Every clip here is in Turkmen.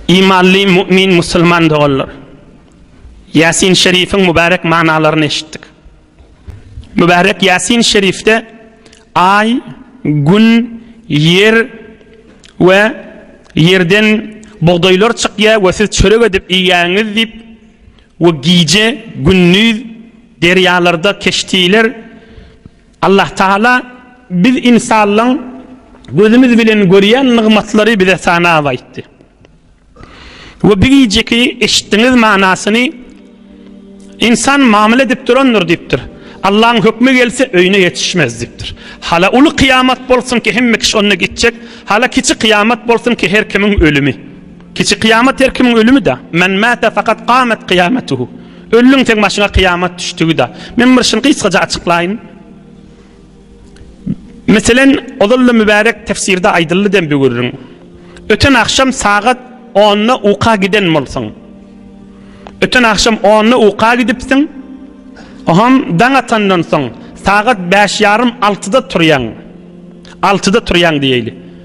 Imanly mu'min musulman doganlar! Ýasin Şerifiň mübärek manalaryny eşitdik. Mübärek Ýasin Şerifde Aý, Gün, Ýer we Ýerden bugdaýlar çykýar we siz çörek edip iýýäňiz diýip we gije, gündiz derýalarda keştiler, Allah Tagala biz ynsanlaň gözümiz bilen görýän nygmatlary bize sanap aýtdy. We bir gijeki eşitdiňiz manasyny ynsan mamle edip durandyr diýipdir. Allah'ın hükmü gelse öyüne yetişmez dipdir. Hala ulu kıyamet bolsun ki hemme kişi onunla gidecek. Hala kiçi kıyamet bolsun ki her kimin ölümü. Kiçi kyýamat her kimiň ölümi-da. Men mäte fakat gamet kyýametuhu. Öldüň seň başyňa kyýamat düşdügi-da. Men bir şuny gysgaja açyklaýyn. Meselen, ozal-da mübärek tefsirde aýdyldy dem bögürrin. Öten agşam sagat onda uka giden bolsaň. Öten agşam onda uka gidipsiň. Oham daň atandan soň sagat bäş ýarym-altyda turýaň. Altyda turýaň diýeýli.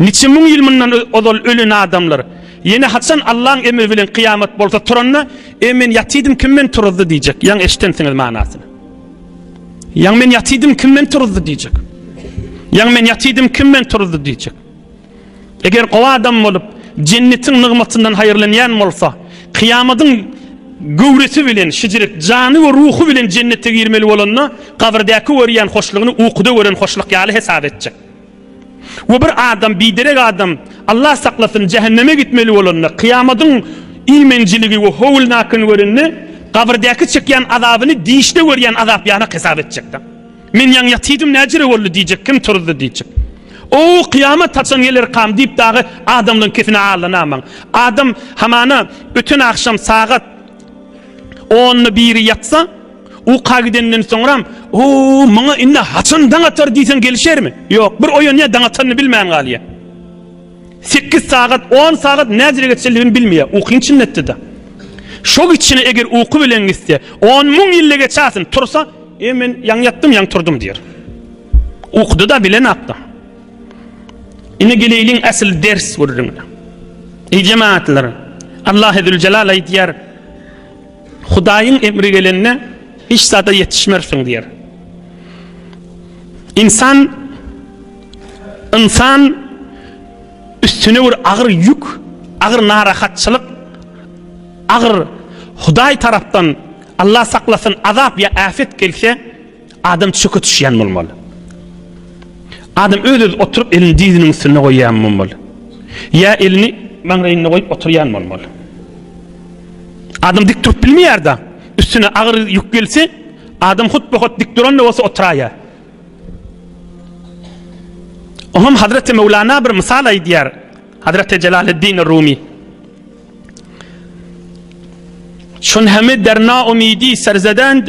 Niçe müň ýyl mundan ozal ölen adamlar, ýene haçan Allaň emri bilen kyýamat bolsa turanda, E, men ýatydym, kim meni turuzdy diýjek. Ýaňy eşidensiňiz manysyny. Ýaňy men ýatydym, kim meni turuzdy diýjek. Ýaňy men ýatydym, kim meni turuzdy diýjek. Eger gowy adam bolup, jennetiň nygmatyndan haýyrlanýan bolsa, kyýamadyň göwresi bilen şijirek jany we ruhy bilen jennete girmeli bolanda, gabyrdaky görýän hoşlugyny ukuda gören hoşluk ýaly hesap etjek. We bir adam, biderek adam, Allah saklasyn, jähenneme gitmeli bolanda, kyýamadyň iýmenjiligi we howulnakyny görende, gabyrdäki çekýän azabyny dişde görýän azap ýanak hesap etjekdä. Men ýaň ýatydym, näjere boldy diýjek, kim turuzdy diýjek. Ow, kyýamat haçan gelerkam diýip dagy adamlaň kesine allanamaň. Adam hamana öten agşam sagat onda biri ýatsa, Uka gidenden soňram, O-o-o, maňa indi haçan daň atar diýseň gelişermi? Ýok, bir oýanýar, daň atanyny bilmän galýar. Sekiz sagat, on sagat näzire geçenligini bilmeýär, ukyň çinnetdi-de. Şo giçine eger uky bilen gitse, on müň ýyl-da geçäsin, tursa, E, men ýaňy ýatdym, ýaňy turdum diýer. Ukuda-da bilenok-da. Ine geleýliň äsli ders gürrüňine. Eý jemagatlar, Allahy Züljelal aýdýar, Hudaýyň emri gelende hiç zada ýetişmersiň diýer. Ynsan ynsan üstüne bir agyr ýük, agyr narahatçylyk, agyr Hudaý tarapdan Allah saklasyn azap ýa afet gelse, Adam çöke düşýän bolmaly. Adam öz-öz oturyp elini diziniň üstünde goýýan bolmaly. Ýa elini maňlaýynda goýup oturýan bolmaly. Adam dik durup bilmeýär-de, üstüne agyr ýük gelse, adam hut-bu-hut dik duran bolsa oturaýýar. Oňam Hazreti Mevlana bir mysal aýdýar. Hazreti Jalaleddin Rumi. Çun hemi derna umidi serzedend.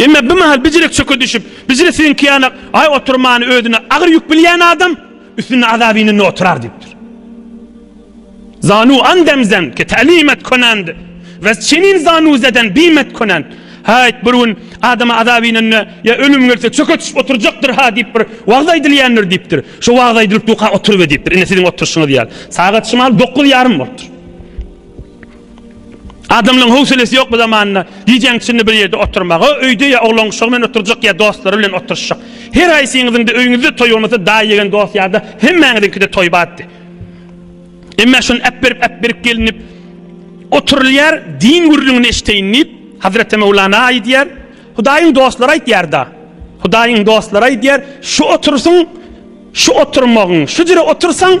Emma bir mahal bijirek çöke düşüp, bijire siziňki ýaly aý oturmany özüne agyr ýük bilýän adam üstünde azap inende oturar diýipdir. Zanu an demzen ki talimet konand ve çenin zanu zeden bimet konand. Haýt bir gün adama azap inende ýa ölüm gelse çöke düşüp oturjakdyr ha diýip bir wagyz aýdylýandyr diýipdir. Şo wagyz aýdylyp duka oturybe diýipdir. Ine siziň oturşyňyz ýaly. Sagat şumal dokuz ýarym bolupdyr. Adamlaryň howselesi ýok bu zamanda. Gijäň içinde bir ýerde oturmaga, öýde ýa oglan guşagy bilen oturjak ýa dostlary bilen oturyşjak. Her haýsyňyzyň-da öýüňizde toý bolmasa daýy ýegen dost ýa-da hemmäňiziňkide toý batdy. Emma şony äp berip äp berip gelinip oturylýar, din gürrüňini eşdeýin diýip, Hazreti Mewlana aýdýar, Hudaýyň dostlary aýdýar-da. Hudaýyň dostlary aýdýar, şu otursyň, şu oturmagyň, şujere otursaň,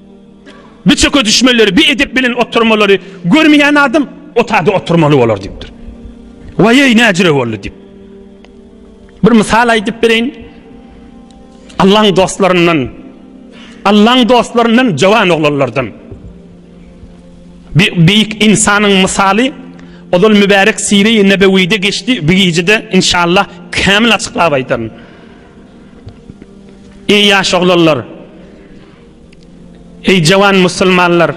Biçöke düşmeleri, bi edep bilen oturmalary görmeýän adam otada oturmaly bolar diýipdir. Waýeý näjire boldy diýip. Bir mysal aýdyp bereýin. Allaň dostlaryndan Allaň dostlaryndan jawan oglanlardan beýik insanyň mysaly ozal mübärek Siri-i Nebewide geçdi. Bu gijede inşallah kämil açyklap aýdaryn. Eý ýaş oglanlar, Eý jawan musulmanlar!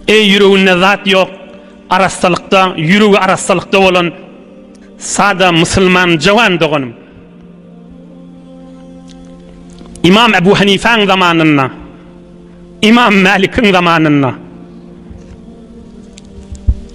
Eý ýüreginde zat ýok, arassalykda, ýüregi arassalykda bolan sada musulman jawan doganym! Ymam Ebu Hanifäň zamanynda, Ymam Mälikiň zamanynda,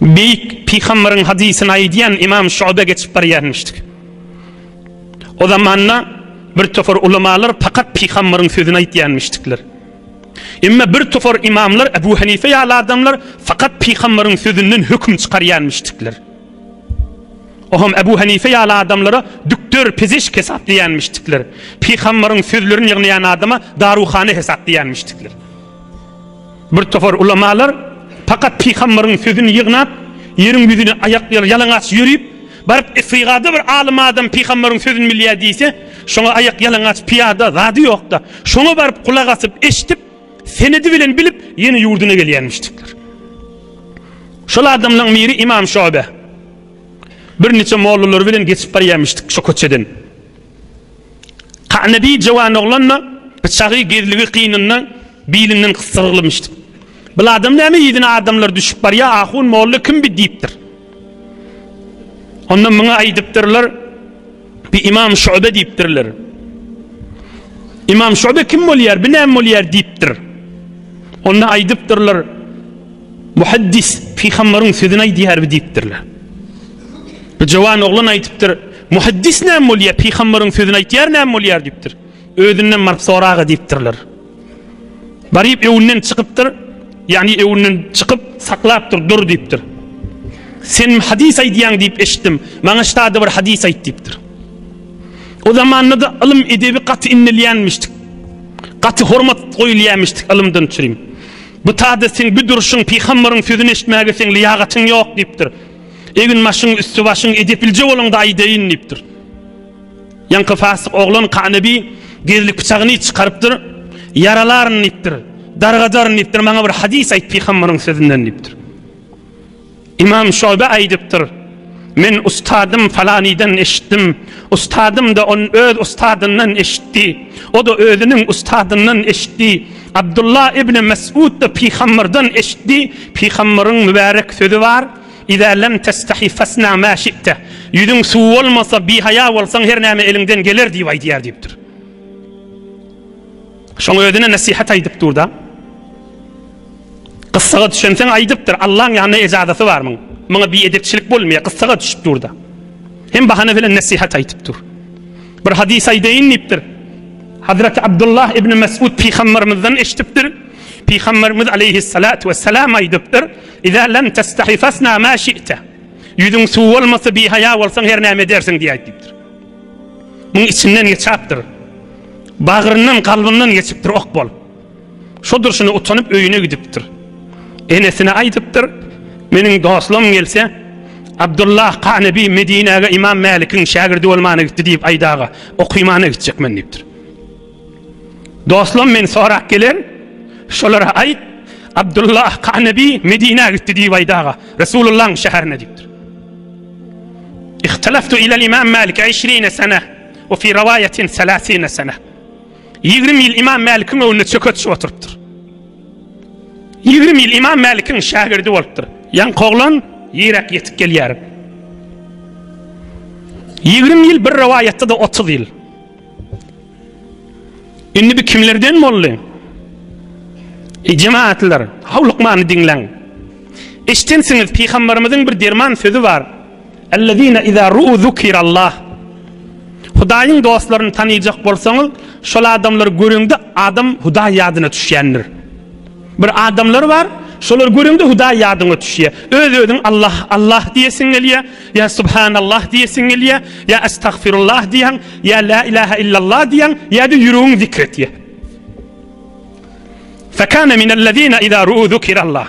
Beýik pygamberiň hadysyny aýdýan ymam Şuba geçip barýarmyşdyk. O zamanda bir topar ulamalar pakat pygamberiň sözüni aýdýarmyşdyklar. Emma bir topar ymamlar Ebu Hanife ýaly adamlar pakat pygamberiň sözünden höküm çykarýarmyşdyklar. Oham Ebu Hanife ýaly adamlara dükdür pezeşk hesaplaýarmyşdyklar. Pygamberiň sözlerini ýygnaýan adama daruhana hesaplaýarmyşdyklar. Bir topar ulamalar pakat pygambaryň sözüni ýygnap, ýeriň ýüzüne aýak ýalaňaç ýörüp, baryp Efrigada bir alym adam pygambaryň sözüni bilýär diýse, şoňa aýak ýalaňaç pyýada zady ýokda, şoňa baryp gulak asyp, eşdip, senedi bilen bilip, ýene ýurduna gelýärmişdikler. Şol adamlaň biri Imam Şobe. Bir niçe mollalary bilen geçip barýarmyşdyk şo köçeden. Kanabi jöwan oglan-da, pyçagy gizligi gynynda bilinden gysdyrylmyşdy. Bil adam näme yzyna adamlar düşüp barýar, ahun molla kim bi diýipdir. Onda muňa aýdypdyrlar, bi imam Şu'be diýipdirler. Imam Şu'be kim bolýar, bi näme bolýar diýipdir. Onda aýdypdyrlar, muhaddis, pygambaryň sözüni aýdýar bi diýipdirler. Bu jöwan oglan aýdypdyr, Muhaddis näme bolýar? Pygamberiň sözüni aýtýar näme bolýar diýipdir. Özünden baryp soraga diýipdirler. Baryp öwünden çykypdyr. Ýagny öwünden çykyp saklapdyr, dur diýipdir. Sen hadis aýdýaň diýip eşitdim. Maňa şada bir hadis aýt diýipdir. O zamanda da ylym edebi gaty inlilýänmişdik. Gaty hormat goýulýanmişdik ylymdan çürim. Bu taýda sen bu durşuň pygamberiň sözüni eşitmäge sen liýagatyň ýok diýipdir. Egin-başyň, üsti-başyň edep bilje bolaňda aýdaýyn, diýipdir. Ýaňky fasyk oglan Kanabi gezlik pyçagyny çykarypdyr. Ýaralaryn diýipdir. Dargadaryn diýipdir. Maňa bir hadys aýt pygamberiň sözünden diýipdir. Imam Şoýbe aýdypdyr. Men ustadym falanydan eşitdim. Ustadym-da ony öz ustadyndan eşitdi. O-da özüniň ustadyndan eşitdi. Abdulla ibn Mes'ud-da pygamberden eşitdi, pygamberyň mübärek sözi bar, Iza lem testahi fasna ma şi'te, Ýüzüň suw bolmasa, bihaýa bolsaň, her näme eliňden geler diýip aýdýar diýipdir. Şoň özüne nesihat aýdyp dur-da. Gyssaga düşenseň aýdypdyr, Allaň ýanynda ejazasy barmyň? Maňa biedepçilik bolmaýar, gyssaga düşüp dur-da. Hem bahana bilen nesihat aýdyp dur. Bir hadys aýdaýyn diýipdir. Hazreti Abdullah ibn Mesud pygambermizden eşitipdir. Pygamberimiz aleyhissalatu vesselam aýdypdyr. İza lem testahi fasna ma şi'te. Ýüzüň suw bolmasa bi haýa bolsaň her näme edersiň diýip aýdypdyr. Muň içinden geçapdyr. Bagryndan, kalbyndan geçipdir ok bolup. Şo durşuna utanyp öýüne gidipdir. Enesine aýdypdyr, Meniň dostlum gelse, Abdullah Kanebi Medinäge Ymam Mälikiň şägirdi bolmana gitdi diýip aýdaga, okymana gitjek men diýipdir. Dostlum men sorak gelen, şolara aýt, Abdullah Kanebi Medinä gitdi diýip aýdaga, Resulullahyň şäherine diýipdir. Ihtilaftu ilal Ymam Mälik 20 sene we fi rawaýatin 30 sene. Ýigrimi ýyl Ymam Mälikiň öňünde çöke düşüp oturypdyr. Ýigrimi ýyl Ymam Mälikiň şägirdi bolupdyr. Ýaňky oglan ýiräk ýetik gelýär. Ýigrimi ýyl bir rowaýatda-da otuz ýyl. Indi bu kimlerden boldy? Eý jemagatlar, haw lukmany diňläň. Eşidensiňiz, pygambarymyzyň bir derman sözi bar. Ellezine iza ru'u zukirallah. Hudaýyň dostlaryny tanyjak bolsaňyz, şol adamlary göreňde adam Hudaý ýadyna düşýändir. Bir adamlar bar, şolary göreňde Hudaý ýadyňa düşýär. Öz-özüň Allah, Allah diýesiň gelýär, ýa subhanallah diýesiň gelýär, ýa estagfirullah diýäň, ýa la ilaha illallah diýäň, ýa-da ýüregiň zikr etýär. Fakana minellezina iza ru'u zukirallah.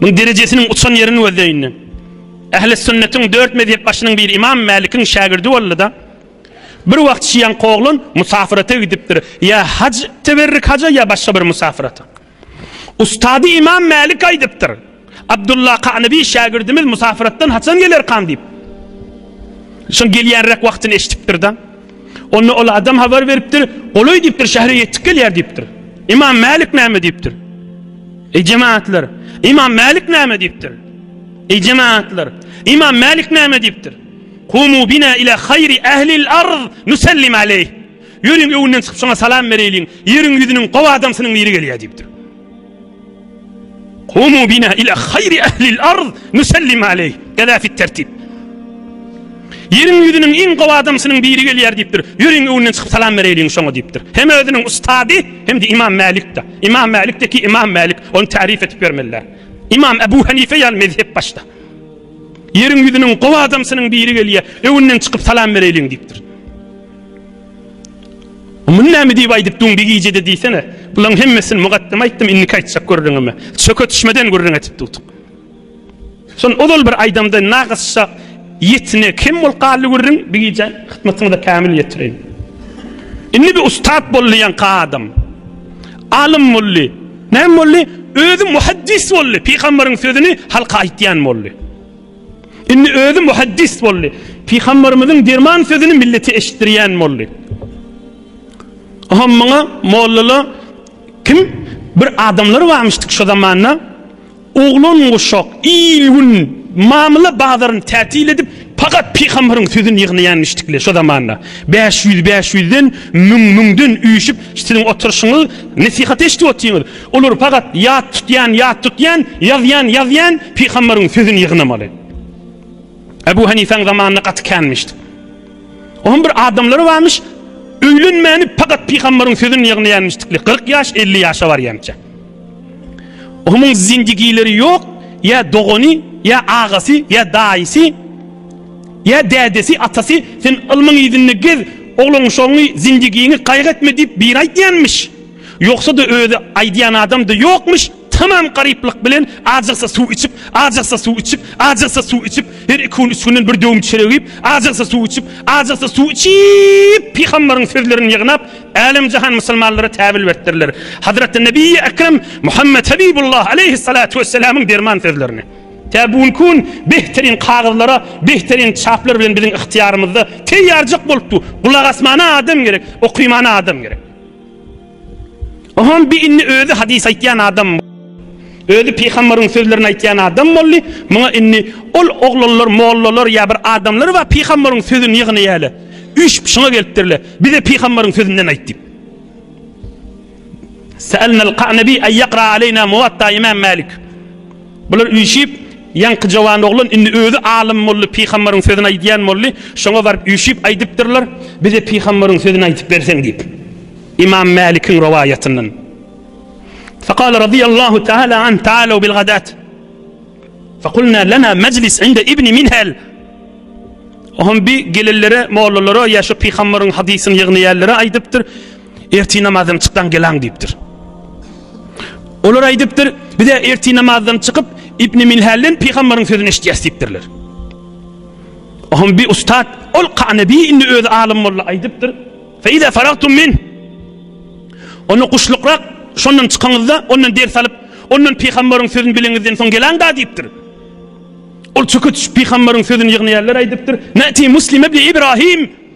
Muň derejesiniň uçan ýerini gözle indi. Ähli sünnetiň dört mezhep başynyň biri Ymam Mälikiň şägirdi boldy-da. Bir wagt şu ýaňky oglan musafyrata gidipdir. Ýa haj, teberrik haja ýa başga bir musafyrata. Ustady Ymam Mälik aýdypdyr. Abdulla Kanabi şägirdimiz musafyratdan haçan gelerkam diýip. Şoň gelýänräk wagtyny eşitipdir-da. Onda ol adam habar beripdir, golaý diýipdir, şähere ýetip gelýär diýipdir. Imam Mälik näme diýipdir? Eý jemaatlar, Imam Mälik näme diýipdir? Eý jemaatlar, Imam Mälik näme diýipdir? Kumu bina ila haýri ählil arz nusallim alayh. Ýöriň öňünden çykyp şoňa salam bereýliň. Ýeriň ýüzüniň gowy adamsynyň biri gelýär diýipdir. Kumu bina ila haýri ählil arz nusallim aleý keza fit tertip. Ýeriň ýüzüniň iň gowy adamsynyň biri gelýär diýipdir. Ýöriň öňünden çykyp salam bereýliň şoňa diýipdir. Hem özüniň ustady hem-de Imam Mälikde. Imam Mälikde ki Imam Mälik ony tarif edip ýörmeliler. Imam Ebu Hanife ýaly mezhep başda. Ýeriň ýüzüniň gowy adamsynyň biri gelýär öňünden çykyp salam bereýliň diýipdir. Muny näme diýip aýdypdyň bir gijede diýsene. Bularyň hemmesini mugaddym aýtdym, indiki aýtjak gürrüňimi. Çöketişmeden gürrüň etip durduk. Soň ozal bir aýdamda nagyşça ýetine kim bolup galdy gürrüň, bir gije hytmatyňyza kämil ýetireýin. Indi bir ussat boldy ýaňky adam. Alym boldy. Näme boldy? Özi muhaddis boldy. Pygamberiň sözüni halka aýtýan boldy. Indi özi muhaddis boldy. Pygamberimiziň derman sözüni millete eşitdirýän boldy. Oha muňa mollala kim bir adamlar barmyşdyk şu zamanda oglan guşak il gün mamla bazaryny tätil edip fakat pygamberiň sözüni ýygnaýanmyşdykle şu zamanda 500 500 den müň müňden üýşüp siziň oturşyňyz nesihat eşidip otyňyz Olar pagat ýat tutýan ýat tutýan, ýazýan ýazýan pygamberiň sözüni ýygnamaly. Ebu Hanifäň zamanynda gaty känmişdi. Onuň bir adamlary barmyş, öýlenmäni pagat pygamberiň sözüni ýygnaýanmyşdykly, 40 ýaş, 50 ýaşa barýança. Onuň zindigileri ýok, ýa dogany, ýa agasy, ýa daýysy, ýa dädesi, atasy, sen ylmyň yzynda gez, oglan uşagyňy, zindigiňi gaýgy etme diýip biri aýdýanmyş. Ýogsa-da özi aýdýan adam-da ýokmuş, tamam garyplyk bilen ajygsa suw içip, ajygsa suw içip, ajygsa suw içip, her iki gün, üç günden bir döwüm çörek iýip, ajygsa suw içip, ajygsa suw içip, pygambaryň sözlerini ýygnap, älem-jahan musulmanlara täwil bertdirler. Hazreti Nebiýi Ekrem Muhammet Habibullah aleýhissalatu wesselamyň derman sözlerini. Tä bu günki gün behtelin kagyzlara, behtelin çaplar bilen biziň ygtyýarymyzda teýýarjyk bolupdy. Gulak asmana adam gerek, okymana adam gerek. Ohan bi indi özi hadys aýtýan adam Özi pygambaryň sözlerini aýtýan adam boldy muňa indi ol oglanlar mollalar ýa bir adamlar bar pygambaryň sözüni ýygnaýale üýşip şuňa gelipdirle bize pygambaryň sözünden aýt diýip Sa'alnal Qa'nabi an yaqra aleýna Muwatta imam Malik. Bular üýşip, Ýaňky jowan oglan indi özi alym boldy, pygambaryň sözüni aýdýan boldy. Şoňa baryp üýşip aýdypdyrlar, Bize pygambaryň sözüni aýdyp berseň diýip. Ymam Mälikiň rowaýatyndan. Fekale radyýallahu teala anh, Taalou bil gadat. Fekulna lena mejlis inde ibni Minhal. Ohan bi gelenlere, mollalara ýa şu pygambaryň hadysyny ýygnaýanlara aýdypdyr. Ertir namazdan çykdan gelaň diýipdir. Olar aýdypdyr, bize ertir namazdan çykyp İbn Milhalden pygamberiň sözüni eşitýäs diýipdirler. Ohm bi ustad ol Kanebi indi öz alym boldy aýdypdyr. Fe iza faragtum min. Onu kuşlukrak şondan çykyňyzda ondan ders alyp ondan pygamberiň sözüni bileňizden soň gelaň da diýipdir. Ol çykyç pygamberiň sözüni ýygnaýarlar aýdypdyr. Nati Muslim ibn İbrahim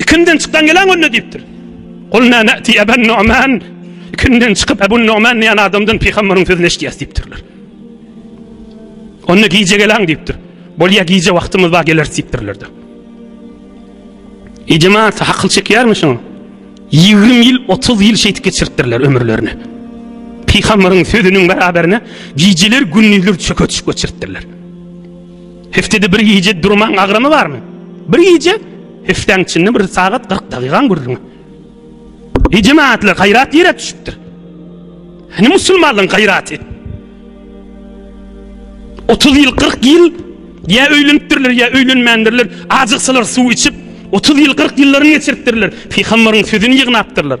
Ikinjiden çykdan gelen günde diýipdir. Gulna na'ti Aban Nu'man ikinjiden çykyp Abu Nu'man diýen adamdan pygamberiň sözüni eşidýäs diýipdirler. Onda gije gelen diýipdir. Bolýa gije wagtymyz bar geler diýipdirler. Icemaat hakyl çekýärmi şoň? 20 ýyl, 30 ýyl şeýtip geçiripdirler ömürlerini. Pygamberiň sözüniň beraberine gijeler gündizler çöke çykyp geçiripdirler. Heftede bir gije durmaň agramy barmy? Bir gije hepdäň içinde bir sagat 40 dagygaň gürrüňi. Eý jemaatlar gaýrat ýere düşüpdir. Hani musulmanlaryň gaýraty? 30 ýyl 40 ýyl ýa öýlenipdirler ýa öýlenmändirler, ajyksalar suw içip 30 ýyl 40 ýyllaryny geçiripdirler. Pygamberiň sözüni ýygnapdyrlar.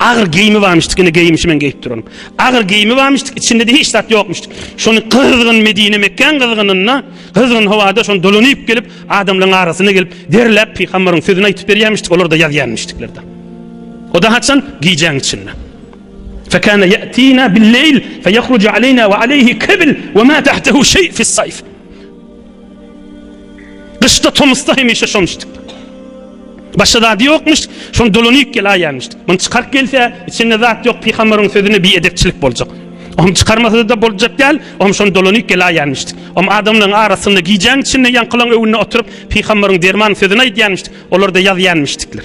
Agyr geýimi barmyşdyk, ine geýmişi men geýip duran. Agyr geýimi barmyşdyk, içinde-de hiç zat ýokmuşdyk. Şony gyzgyn Medine mekan gyzgynynda, gyzgyn howada şony dolanyp gelip, adamlaryň arasyna gelip, derläp pygamberiň sözüni aýtyp berýärmişdik, olar-da ýazýarmyşdyklar-da. O-da haçan? Gijäň içinde. Fekana ýatina bil-leýl feýahruju aleýna we aleýhi kebil we ma tahtahu şeý fis-saýf. Gyşda, tomusda hemişe şonuşdyk. Başga zady ýokmuş, şony dolanyp gelaýýanmyşdyk. Muny çykaryp gelse, içinde zat ýok, pygamberyň sözüne biedepçilik boljak. Oňa çykarmasa-da boljak däl, oňa şony dolanyp gelaýýanmyşdyk. Oňa adamlaryň arasynda, gijäň içinde ýaňkylaryň öňünde oturyp, pygamberyň derman sözüni aýdýanmyşdyk, olar-da ýazýanmyşdyklar.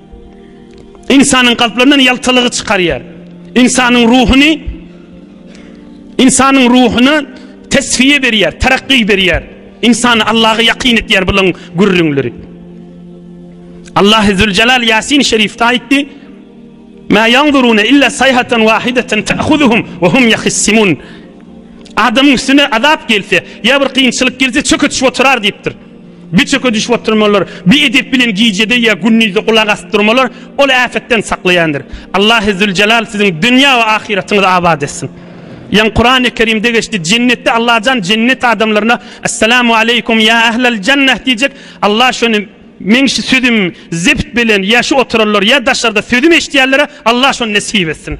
Ynsanyň kalplaryndan ýaltalygy çykarýar. Ynsanyň ruhuny Ynsanyň ruhuna tesfiýe berýär, terakki berýär. Ynsany Allaha ýakyn etýär bularyň gürrüňleri. Allah Züljelal Ýasin şerifde aýtdy: "Ma ýanzuruna illa saýhatan wahidatan ta'khuzuhum we hum yahissimun." Adamyň üstüne azap gelse, ýa bir kynçylyk gelse çöke düşüp oturar diýipdir. Biçöke düşüp oturmalar, biedep bilen gijede ýa gündizde gulak asyp durmalar ol äpetden saklaýandyr. Allahy Züljelal siziň dünýä we ahyratyňyzy abat etsin. Ýaňy Kurany Kerimde geçdi, Jennetde Allajan jennet adamlaryna Esselamu aleýkum ýa ählel jenneh diýjek, Allah şony meň şu sözüm zebt belen ýa şu oturanlar ýa daşarda sözüm eşidýänlere Allah şony nesip etsin.